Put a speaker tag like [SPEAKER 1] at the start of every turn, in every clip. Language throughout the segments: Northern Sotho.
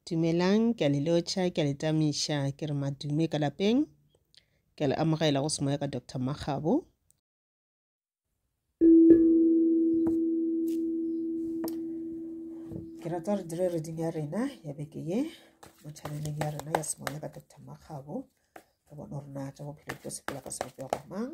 [SPEAKER 1] Dumelang, ke a le lotšha, ke a le tamiša, ke re madume ka lapeng. Ke a le amogela go semoya ka Doctor Makgabo. Ke rata gore dire reding ya rena ya beke ye mo chaneleng ya rena ya semoya ka Doctor Makgabo. Re bone gore na tša bophelo di tlo sepela ka sebopego mang.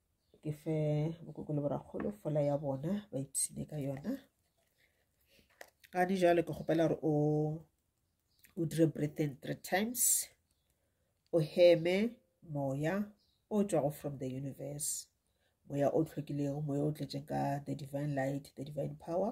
[SPEAKER 1] ke fe bokoko le borakgolo fola ya bona ba ipshine ka yona ga di jalo ke kgopela gore o o dire breathing three times o heme moya o tswago from the universe moya o tlhwekilego moya o tletseng ka the divine light the divine power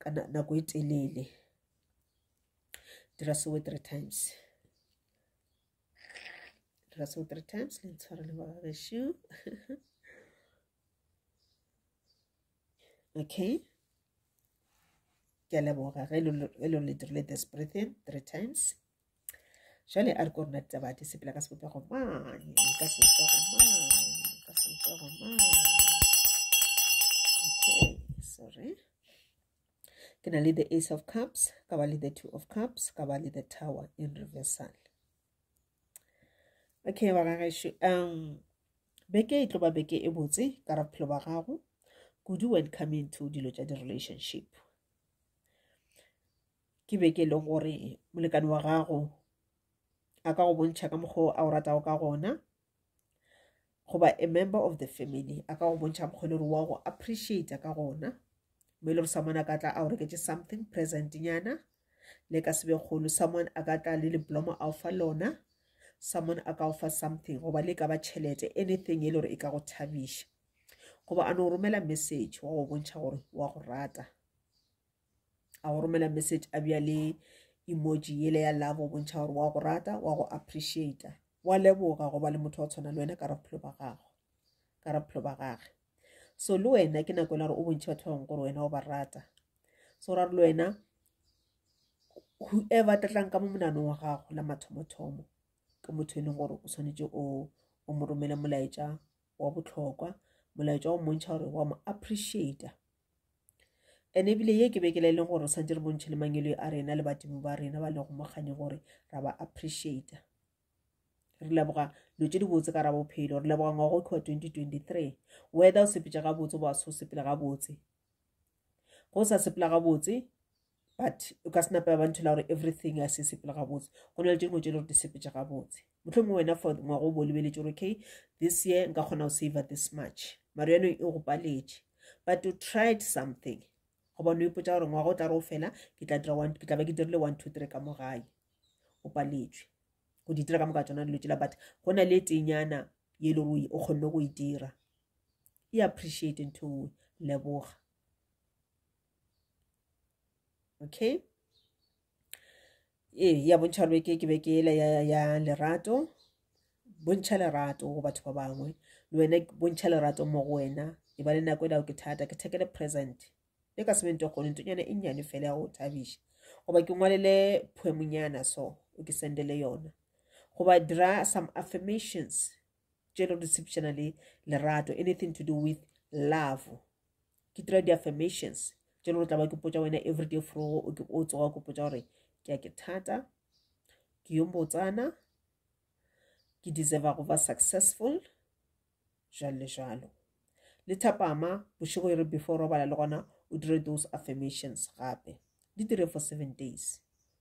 [SPEAKER 1] ka nako e telele dira sewe three times dira sewe three times le ntshware le bagagešo okay ke a leboga ge e lo le dirile this breathing three times jale a re ko rona ditaba di sepela ka sebopego mane ka sebopego mane ka sebopego mane okay sorry ke na le the ace of cups ka ba le the two of cups ka ba le the tower in reversal okay ba gageše um beke e tlo ba beke e botse ka ra bophelo ba gago kudu when coming to dilo tša di-relationship ke be ke le gore molekane wa gago a ka go bontšha ka mokgwa o a o ratago ka gona goba a member of the family a ka go bontšha mokgwa le gore wa go appreciate ka gona mo e le gore someone a ka tla a o reketse something present nyana le ka sebe kgolo someone a ka tla le leblomo a o fa lona someone a ka o fa something goba le ka ba tšhelete anything e le gore e ka go thabiša goba a no romela message wa go bontšha gore wa go rata a go romela message a bja le emoji yele ya love o bontšha gore wa go rata wa go appreciata wa leboga go ba le motho wa tshwana le wena ka ra bophelo ba gago ka ra bophelo ba gage so le wena ke nako e la gore o bontšhe batho ba bangwe gore wena o ba rata so ra re le wena whoever tlatlang ka mo monanong wa gago la mathomothomo ke motho e leng gore o tshwanetse o o mo romele molaetša wa botlhokwa molaetša wa mmontšha gore wa mo appreciata ene ebile ye ke bekela e leng gore sa dire bontšhe le mangelo a rena le badimo ba rena ba lego mogane gore ra ba appreciata re leboga dilo tse dibotse ka ra bophelo re leboga ngwago kua 2023 wether o sepetša gabotse ba so sepela gabotse go sa sepela gabotse but o ka sena pela ba nthela gore everything a se sepele gabotse go na le tše dingwe tše le gore di sepetse gabotse motlho mongwe wena for ngwago o bo lebeletse gore okay this year nka kgona go save this much mare yano e go paletše but to tried something goba no ipotsa gore ngwaga o tla re o fela ke tla dira one ke tla ba ke dirile one two three ka mo gae o paletswe go di dira ka moka tsona dilo tsela but go na le tenyana ye e le gore o kgonne go e dira e appreciate ntho nngwe leboga okay ee ya bontšha gore beke ke beke ele ya, ya lerato bontšha lerato go batho ba bangwe le wena bontšha lerato mo go wena e ba le nako e lago ke thata ke thekele present e ka sebente kgone ntonyana e nnyane fela ya go thabiša goba ke ngwalele poemonyana so o ke sendele yona goba dira some affirmations tše le go di le lerato anything to do with love ke dira di-affirmations tše le gore tla ba ke potsa wena everyday frogo o tsoga ke potsa gore ke a ke thata ke yo mbotsana ke deserva go ba successful jalo le jalo le thapama bošego e re before robala le gona o dire those affirmations gape di dire for seven days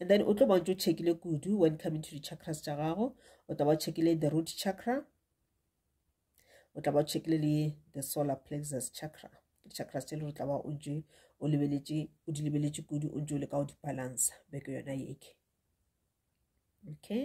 [SPEAKER 1] and then o tlo bontse o checkile kudu when coming to di-chakras tša gago o tla ba o checkile the root chakra o tla ba o checkile le the solar plexus chakra di-chakras tše le gore tla ba o ntse o lebeletše o di lebeletše kudu o ntse o le ka go di-balansa beke yona yeke okay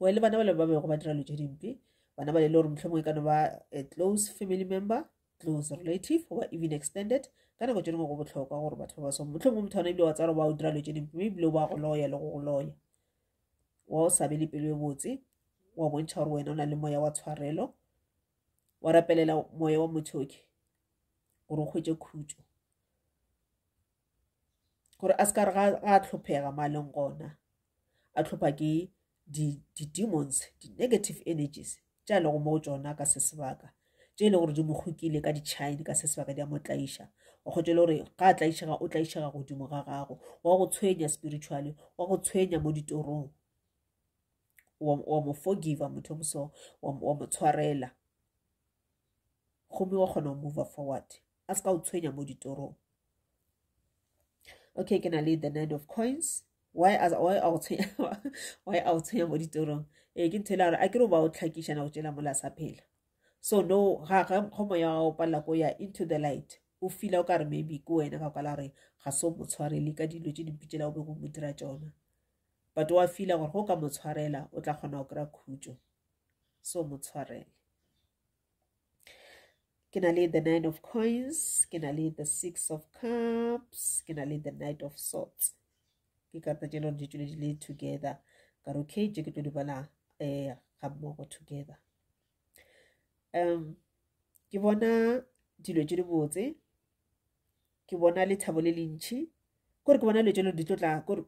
[SPEAKER 1] well le bana bale ba bego ba dira lo tse dimpe bana bale le gore mohlomongwe ka no ba a close family member close relative goba even extended ka nako tse dingwe go botlhokwa gore batho ba ba song motlhomongwe motho ona ebile wa tsara ba o dira lo tse dimpe mme ebile o ba go loya le go go loya wa o sabe le pelo e botse wa bontšha gore wena o na le moya wa tshwarelo wa rapelela moya wa mothoke gore o kgwetse khutso gore a se ka re ga a tlhophega mo a leng gona a tlhopha ke di-demons di-negative energies tša e lego mo go tsona ka se sebaka tše e le gore di mo kgokile ka ditšhaene ka se sebaka di a mo tlaiša o kgotse le gore ga a tlaišega o tlaišega godimo ga gago wa go tshwenya spiritually wa go tshwenya mo ditorong wa mo forgiva motho moso wa mo tshwarela gomme wa kgona go move forward a se ka o tshwenya mo ditorong okay ke na le the nine of coins why a why a o tshwenya why a o tshwenya mo ditorong e ke nthela gore a ke re ba o tlhakiša na go tšela mola sa phela so no ga ga go moya wa o palela go ya into the light o fila o ka re maybe ke wena ka kwala gore ga so mo tshwarele ka dilo tse dimpitsela o be go mo dira tsona but wa fila gore go ka mo tshwarela o tla kgona go kry-a khutso so mo tshwarele ke na le the nine of coins ke na le the six of cups ke na le the night of sorts ke karata tše lore di tšwele di le together ka re okay tše ke tlo di bala um ga mmogo together um ke bona dilo tše di botse ke bona lethabo le le ntšhi kore ke bona dilo tše lore di tlo tla kore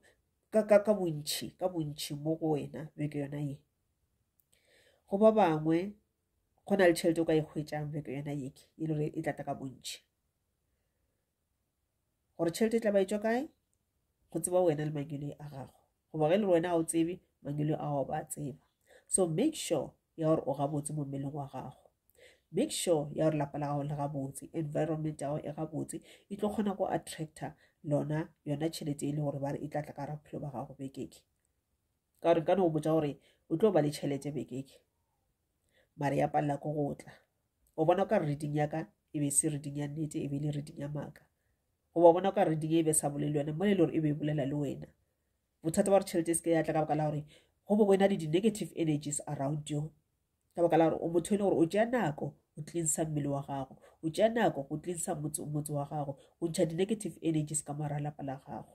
[SPEAKER 1] ka bontšhi ka bontšhi mo go wena beke yona ye go ba bangwe go na le tšhelete o ka e hwetšang bjako yona yeke e le gore e tlata ka bontšhi gore tšhelete e tla ba e tswa kae go tseba wena le mangelo a gago goba ge e le gore wena ga o tsebe mangelo a gago ba tseba so make sure ya gore o gabotse mo mmeleng wa gago make sure ya gore lapa la gago le gabotse environment ya gago e gabotse e tlo kgona go attractor lona yona tšhelete e le gore ba re e tlatla ka raphelo ba gago bekeke ka gore nkane o botsa gore o tlo ba le tšhelete bekeke mare ya palela ko go tla o bona o ka re reding yaka e be se reding ya nnete e be le reding ya maaka goba o bona o ka reding e be sa bolele le yone mo le le gore e be e bolela le wena bothata ba gore tšhelete e se ke ya tla ka baka la gore go bo wena le di-negative energies around you ka baka la gore o motho e le gore o tšea nako o tlinsa mmele wa gago o tšea nako go tlinsa motse wa gago o ntšha di-negative energies ka moara lapa la gago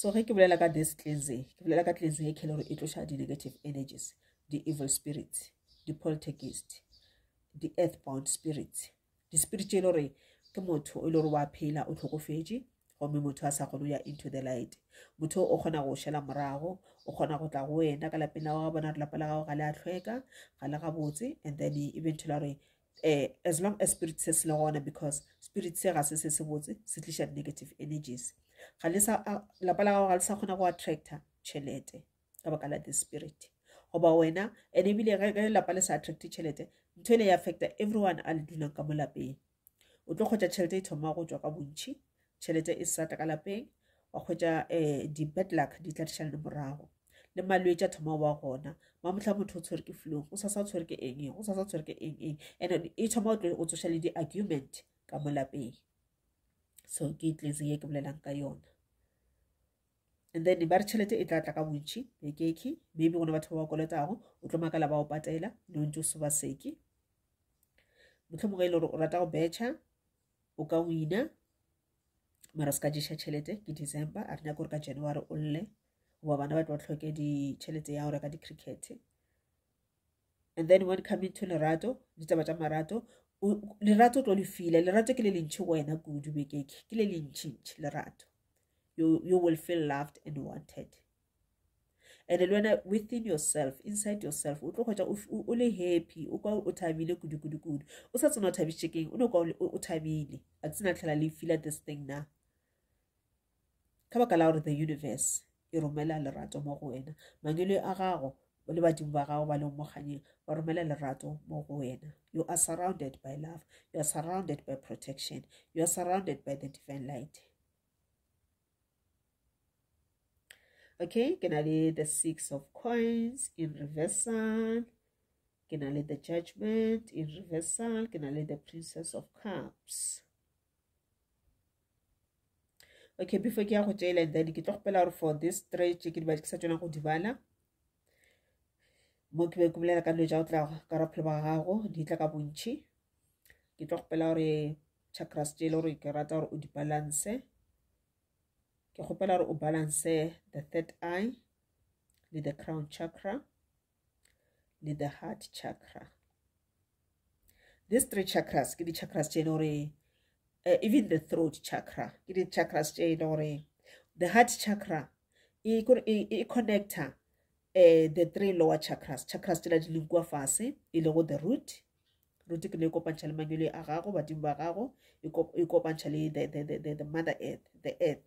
[SPEAKER 1] so ge ke bolela ka this cleansing ke bolela ka cleansing e kele gore e tloša di-negative energies di-evil spirits di-poltergeist di-earth bound spirits di-spirit tše e le gore ke motho e le gore wa phela o tlhokofetše gomme motho a sa kgone ya into the light motho o kgona go šela morago o kgona go tla go wena ka lapeng la go bona re lapa la gago ga le a tlhweka ga le gabotse and then eventually gore eh, as long as spirit se se le gona because spirit se ga se se se botse se tliša negative energies ga le sa lapa la gago ga le sa kgona go attracta tšhelete ka baka la the spirit goba wena and ebile ge lapa le sa attracte tšhelete ntho e le e affecta everyone a le dulang ka mo lapeng o tlo kgwetsa tšhelete e thoma go tswa ka bontšhi tšhelete e sa tla ka lapeng wa kgwetsa um eh, di-bad luck di tla dišalane morago le malwetse a thoma wa gona mamotlha motho o tshwere ke flong o sasa o tshwere ke eng eng o sasa o tshwere ke eng eng and e thoma o tsoša le di-argument ka mo lapeng so ke tletse ye ke bolelang ka yona and then ba re tšhelete e tla tla ka bontšhi lekekhi maybe gona batho ba ba kolotago o tlo makala ba o patela le o ntse o seba seke motlho mongwe e le gore o rata go betšha o ka wina mara se ka ješa tšhelete ke december a re nyako gore ka january o lle goba bana ba tlo tlhoke ditšhelete ya go reka di-cricket and then when coming to lerato ditaba tša marato lerato o tlo le fila lerato ke le lentšhi go wena kudu bekeke ke le lentšhintšhi lerato you, you will feel loved and wanted and le wena within yourself inside yourself o tlo kgwetsa o le happy o kwa o thabile kudu-kudu-kudu o sa tsena o thabiše keng o ne kwa o thabile a tsena tlhela le fila this thing na ka baka la gore the universe e romela lerato mo go wena mangele a gago le badimo ba gago ba leng mo kganyeng ba romela lerato mo go wena you are surrounded by love you are surrounded by protection you are surrounded by the divine light okay ke na le the six of coins in reversal ke na le the judgment in reversal ke na le the princess of cups okay before ke ya go tšela and then ke tlo gopela gore for this stretch ke diba ke sa tšona go dibala mo ke be ke bolela ka dilo tša go tla ka raphelo ba gago di tla ka bontšhi ke tlo kgopela gore chakras tše e le gore ke rata gore o di balance ke kgopela gore o balance the third eye le the crown chakra le the heart chakra these three chakras ke di-chakras tše e le gore uh, even the throat chakra ke di-chakras tše e le gore the heart chakra e, e, e connecta uh, the three lower chakras chakras tsela di leng kua fase e lego the root root ke ne e kopantšha le manyole a gago badimo ba gago e kopantšha le the, the, the, the mother earth the earth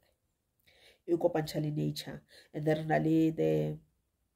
[SPEAKER 1] e kopantšha le nature and then re na le the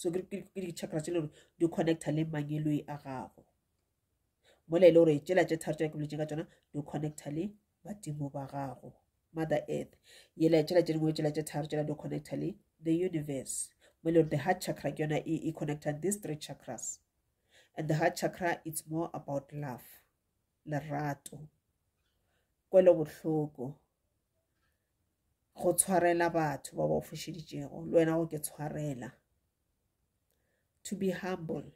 [SPEAKER 1] so ke di-chakra tse le gore di connecta le mangeloi a gago mola e le gore tsela tse tharo tse ke boletse ka tsona di connecta le badimo ba gago mother earth yela tsela tse dingwe tsela tse tharo tsela di connecta le the universe mo e le gore the heart chakra ke yona e, e connecta these three chakras and the heart chakra it's more about love lerato kwelo bohloko go tshwarela batho ba ba o fošeditšego le wena go ke tshwarela to be humble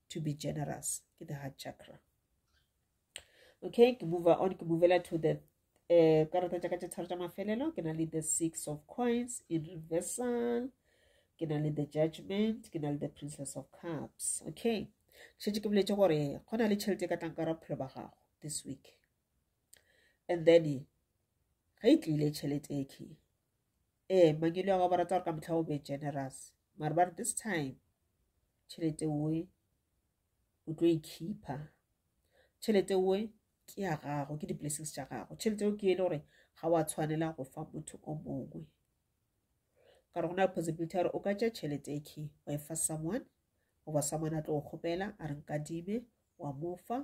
[SPEAKER 1] to be generous ke the heart chakra okay ke move on ke movela to the um karata tša ka tše tharo tša mafelelo ke na le the six of coins in reversal ke na le the judgment ke na le the princess of cups okay šetse ke boletse gore go na le tšhelete e ka tlang ka ra bophelo ba gago this week and then ge e tlile tšhelete e key ee mangwele a ba rata gore ka motlha o be generous mare ba re this time tšhelete oe o tlo e khipha tšhelete oe ke ya gago ke di-blessings tša gago tšhelete eo ke e le gore ga wa tshwanela go fa motho o mongwe ka re go na le possibility ya gore o ka tša tšhelete e key wa e fa someone goba someone a tlo go kgopela a re nkadime wa mo fa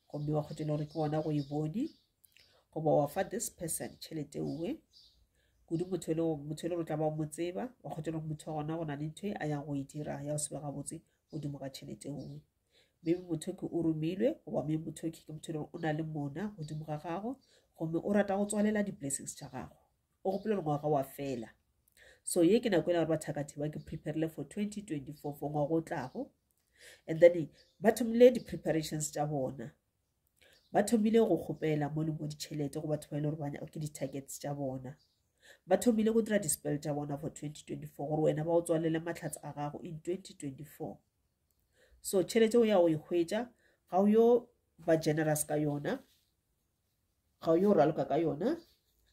[SPEAKER 1] gomme wa kgotela gore ke gona go e bone goba wa fa this person tšhelete uwe kudu motho e le motho e le gore tla ba o mo tseba wa kgotela gore motho wa gona go na le ntho e a yang go e dira ya go sebe gabotse godimo ga tšhelete uwe maybe motho ke o romilwe goba maybe motho ke motho e le gore o na le mona godimo ga gago gomme o rata go tswalela di-blessings tša gago o gopole ngwaga wa fela so ye ke nako e le gore bathakathe ba ke preparile for 2024 for ngwago o tlago and then ba thomile di-preparations tša bona ba thomile go kgopela mo le mo ditšhelete go batho ba e le gore bana ke di-targets tša bona ba thomile go dira di-spell tša bona for 2024 gore wena ba o tswalele matlhatsa a gago in 2024 so tšhelete o ya o e hwetša ga o yo ba generous ka yona ga o yo o raloka ka yona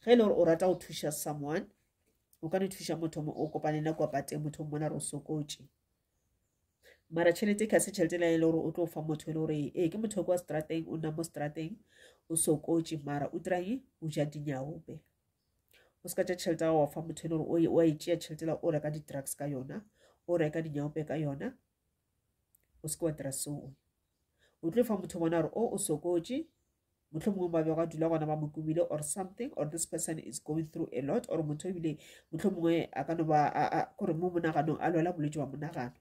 [SPEAKER 1] ge e le gore o rata go thuša someone o ka ne thuša motho o kopane na kwa pateng motho o mmona re o sokotše mara tšhelete ka se tšhelete le e le gore o tlo fa motho e le gore ee ke motho kwa strateng o nna mo strateng o sokotše mara o tirae o ja dinyaope o se ka tša tšhelete wa fa motho e le gore o e tšea tšhelete la o reka di-drugs ka yona o reka dinyaope ka yona o se ke wa dira seo o tlo fa motho bona gore o o sokotše motlho mongwe ba bego a dula gona ba mo kumile or something or this person is going through a lot or motho ebile motlho mongwe a ka no ba kore mo monaganong a lwela bolwetse wa monagano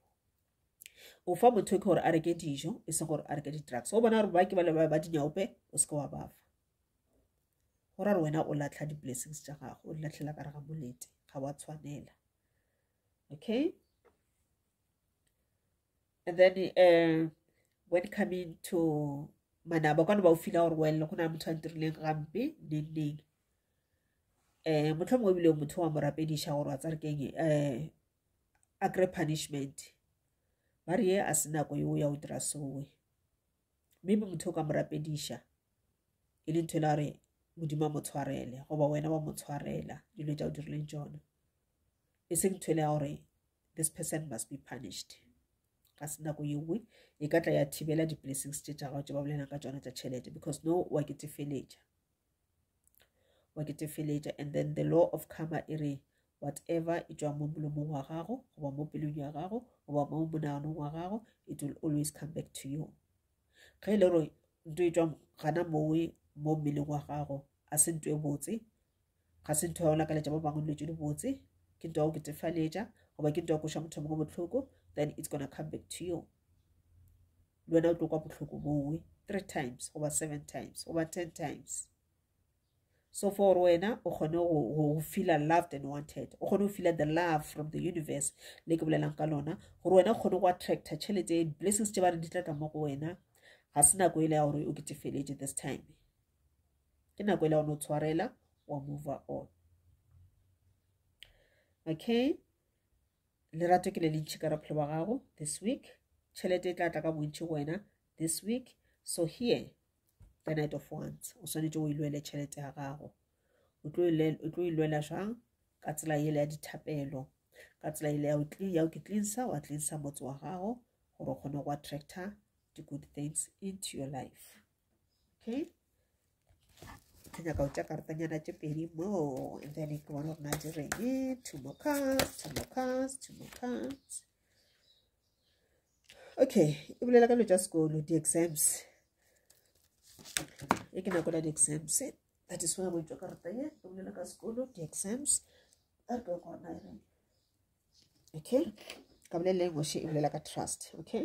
[SPEAKER 1] o fa motho ke gore a reke dijo e seng gore a reke di-drugs o bona gore ba ke ba leba ba dinyaope o se ke wa bafa go ra re wena o latlha di-blessings tša gago o di latlhela ka re ga molete ga wa tshwanela okay and then uh, when coming to manaba kwane ba o fila gore welle go na le motho a ntirileng gampe nenneng um eh, motlho mongwe ebile motho wa mo rapediša gore wa tsa re keng um eh, a kry punishment ba re ye a se nako yo ya o dira sowe mme be motho o ka mo rapediša e le ntho e le gore modimo a mo tshwarele goba wena wa mo tshwarela dilo tša o dirileng tsone e seng ntho e le ya gore this person must be punished ka se nako ye nngwe e ka tla ya thibela di-blessings tše tša gago tše ba bolelang ka tsona tša tšhelete because no wa ke tefeletša wa ke tefeletša and then the law of karma e re whatever e tšwa mo molomong wa gago goba mo pelong ya gago goba mo monaganong wa gago it will always come back to you ge e le gore nto e tswa gana mowe mo mmeleng wa gago a se nto e botse Ga se ntho ya go lakaletša ba bangwe dilo tše dibotse, ke ntho ya go ketefaletša goba ke ntho ya go kweša motho mongwe bohloko, then it's gonna come back to you. Le wena o tlo kwa bohloko bowe three times goba seven times goba ten times. So for wena o kgone go feela loved and wanted, o kgone go feela the love from the universe le ke bolelang ka lona gore wena o kgone go attracta tšhelete blessings tše ba re di tla ka mo go wena ga se nako e le ya gore o ketefeletse this time. ke nako e la o no tshwarela wa mover on okay lerato ke le le ntšhi ka ra phelo wa gago this week tšhelete e tla tla ka bontšhi go wena this week so here the night of want o swanetše o ilwele tšhelete ya gago o tlo ilwela jang ka tsela ele ya dithapelo ka tsela ele ya o ke tlinsa wa tlinsa motse wa gago gore o kgone go attractor di-good things into your life okay ke nyaka go tša karatanyana tše pedi moo and then ke bona gore na di reng two more cards two more cards two more cards okay e bolela ka dilo tša sekolo di-exams e ke nako la di-exams that is why go itšwa karata ye e bolela ka sekolo di-exams a re ke gore na e reng okay ka boleleng ngwashe e bolela ka trust okay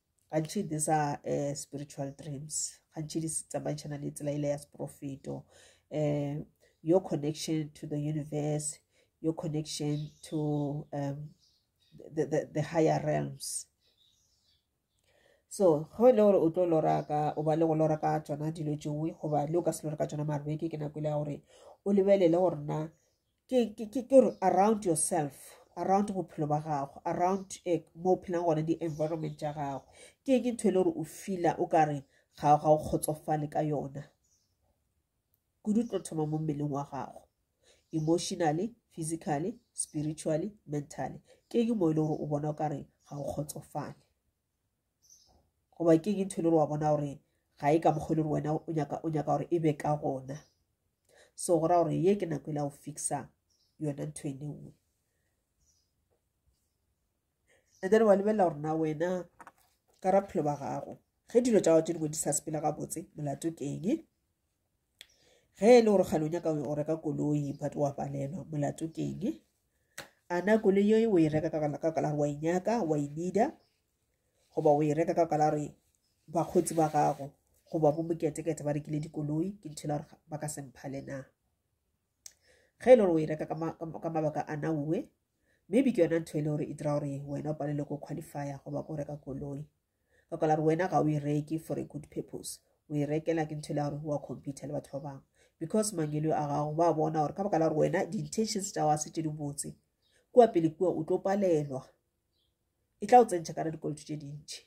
[SPEAKER 1] gantši these are uh, spiritual dreams gantši di tsamaešana le tsela ile ya seprofeto um your connection to the universe your connection to um, the, the, the higher realms so go e le gore o tlo lora ka o ba le go lora ka tsona dilo tšengwe goba le o ka se lore ka tsona marweke ke nako ile ya gore o lebelele gore na ke gore around yourself around bophelo ba gago around eh, mo o phelang gone di-environment tša gago ke ke ntho e le gore o fila o ka re ga ga o kgotsofale ka yona kudu tlo thoma mo mmeleng wa gago emotionally physically spiritually mentally ke ke mo e le gore o bona o ka re ga o kgotsofale goba ke eng ntho e le gore wa bona gore ga e ka mokgwa e le gore wena o nyaka o nyaka gore e be ka gona so go ra gore ye ke nako e la go fixa yona ntho e le nngwe and then wa lebelela gore na wena ka raphelo ba gago ge dilo tsa gago tse dingwe di sa sepele gabotse molato ke eng ge e le gore kgale o nyaka o reka koloi but wa palelwa molato keng a na koloi yo o e reka ka kala wa inyaka e wa e nida goba o e reka ka kala re bakgotsi ba gago goba bo moketekete ba rekile dikoloi ke nthela gore ba ka semphale na ge e le gore o e reka ka mabaka a na uwe maybe ke yona ntho e le gore e dira gore wena o palelwe ko qualifya goba ko reka koloi ka kwala gore wena ga o e reke for a good purpose o e rekela ke ntho e le gore wa compete le batho ba bangwe because mangelo a gago ba bona gore ka baka la gore wena di-intentions tsa wa se tse di botse kua pele kua o tlo palelwa e tla o tsentšha kana dikoloto tse dintšhi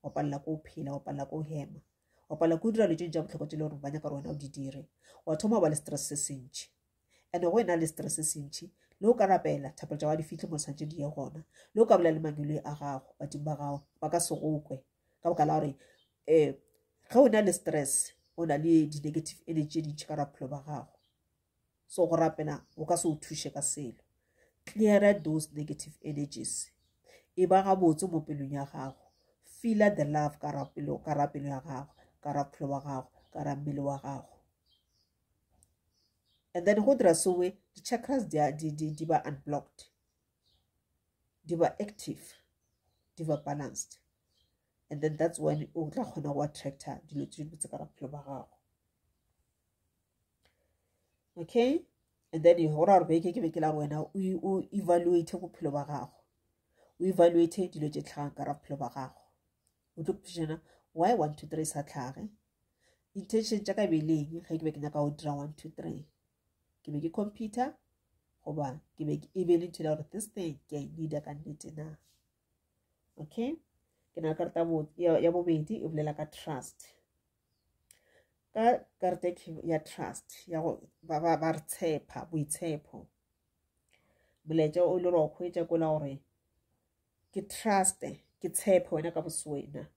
[SPEAKER 1] wa palela ko o phela wa palela ko o hema wa palela ko o dira letsong tsa botlhokwa tse le gore ba nyaka gore wena o di dire wa thoma ba le stress se sentšhi ande go e na le setere se sentšhi le o ka rapela thapelo tša wa di fihle mo tshwanetse di ye gona le o ka bolela le mangweloi a gago badimo ba gago ba ka segokwe ka boka la gore um ge o na le stress o na le di-negative energy tše dintšhi ka raphelo ba gago so go rapela o ka se o thuše ka selo cleara those negative energies e ba gabotse mo pelong ya gago feela the love ka rapelo ya gago ka raphelo wa gago ka rammele wa gago and then go dira sowe di-chakras di, di, di, di ba unblocked di ba active di ba balanced and then that's when o tla kgona go attractor dilo tse dibotse ka bophelo ba gago okay and then go ra gore beke ke be ke la wena o evaluate bophelo ba gago o evaluate dilo tse tlhagang ka ra bophelo ba gago o tlo putšana why one two three sa tlhage intention tša ka beleng ge ke be ke nyaka go dira one two three ke be ke computer goba ke be e be le nthela gore this thing ke a e needa ka nnete na okay ke na le karata ya bobedi e bolela ka trust ka karata ya trust ya go ba re tshepa boitshepo molaetša o le gore wa kgwetša kola gore ke trust ke tshepe wena ka boswena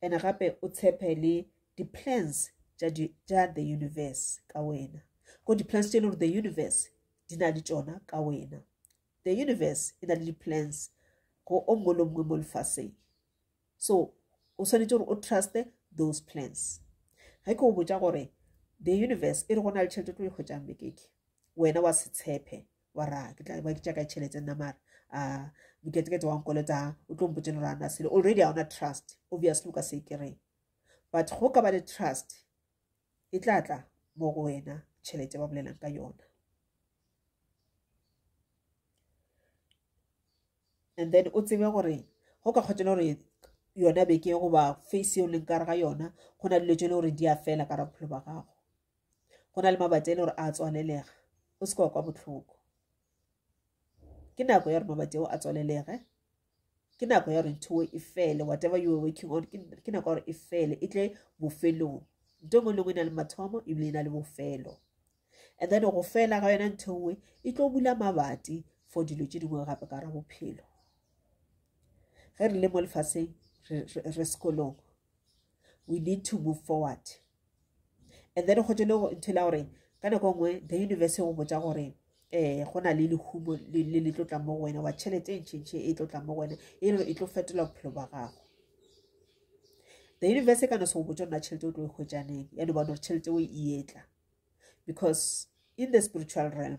[SPEAKER 1] and gape o tshepe le di-plans tša the universe ka wena ko di-plans tše e le gore the universe di na le tšona ka wena the universe e na le di-plans go o mongwe le mongwe mo lefaseng so o swanetše gore o truste those plans ge ke o botja gore the universe e re go na le tšhelete tlo e hwetšang bekeke wena wa se tshepe wa ra ke tla ba ke tša ka tšhelete nna mara a ah, diketekete wa nkolota o tlo mpotse lora na sele already ga ona trust obviously o ka se kereng but go ka ba le trust e tla tla mo go wena tšhelete ba bolelang ka yona and then o tsebe gore go ka kgotsa gore yona beke goba face e o leng kare ga yona go na le dilo tse e le gore di a fela ka ra bophelo ba gago go na le mabati a e le gore a tswalelega go se kwa kwa botlhoko ke nako ya gore mabati ao a tswalelege ke nako ya gore ntho e fele whatever you are working on ke nako ya gore e fele e tle bofelong nto ngwe le ngwe e na le mathomo ebile e na le bofelo and then go fela ga yona ntho nngwe e tlo bula mabati for dilo tse dingwe gape ka ra bophelo ge re le mo lefaseng re sekolong we need to move forward and then go tse le ntho la gore ka nako nngwe the universe go botsa gore um go na le lehumo le le tlotlang mo go wena wa tšhelete e ntšhintšhe e tlotlang mo go wena e e tlo fetola bophelo ba gago the universe e ka no se go botsa nna tšhelete o tlo e hwetsaneng ya no bona gore tšhelete o e etla because in the spiritual realm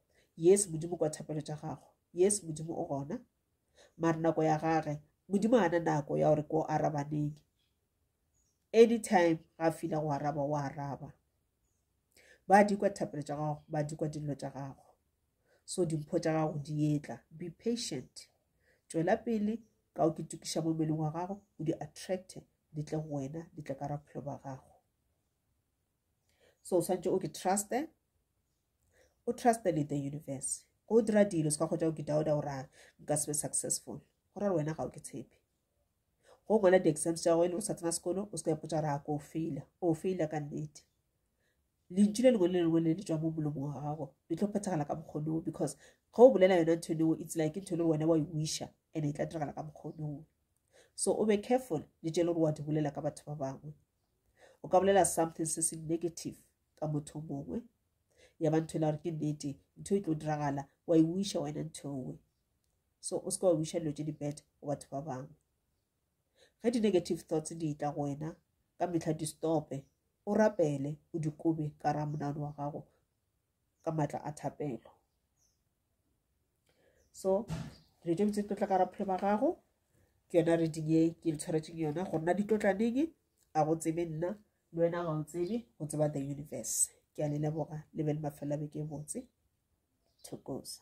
[SPEAKER 1] yes modimo kwa thapelo tša gago yes modimo o gona mare nako ya gage modimo a na nako ya gore ko arabaneng anytime ga a fila go araba o araba ba di kwa thapelo tša gago ba di kwa dillo tša gago so dimpho tša gago di etla be patient tšwela pele ka o ke tukiša mo mmeleng wa gago o di attracte di tle go wena di tle ka raphelo ba gago so o tshwanetse o ke truste o truste le the universe go o dira dilo se ka kgotsa o ke dauda o rang nka se be successful go ra wena ga o ke tshepe go ngwala di-exams tša go e le go sa tsena sekolo o se ka ipotsa ra ko o faila o faila ka nnete lentšu le lengwe le lengwe le le tswa mo molomo wa gago le tlo phethagala ka mokgonoo because ge o bolela yona ntho eneo it's like ntho e le gore wena wa e wisha and e tla diragala ka mokgonoo so o be careful le tše le gore wa di bolela ka batho ba bangwe o ka bolela something se se negative ka motho mongwe ya ba ntho e la gore ke nnete ntho e tlo diragala wa e wiša wena ntho nngwe so o seke wa wiša dilo tse di-bad go batho ba bangwe ge di-negative thoughts di tla go wena ka metlha di stope o rapele o dikobe ka ramonano wa gago ka maatla a thapelo so dilo tše botse tlotla ka raphelo ba gago ke yona reading e ke le tshwaretseng yona go nna ditlotlaneng a go tsebe nna le wena ga o tsebe go tseba the universe ke a le leboga le be le mafelela beke e botse thokosa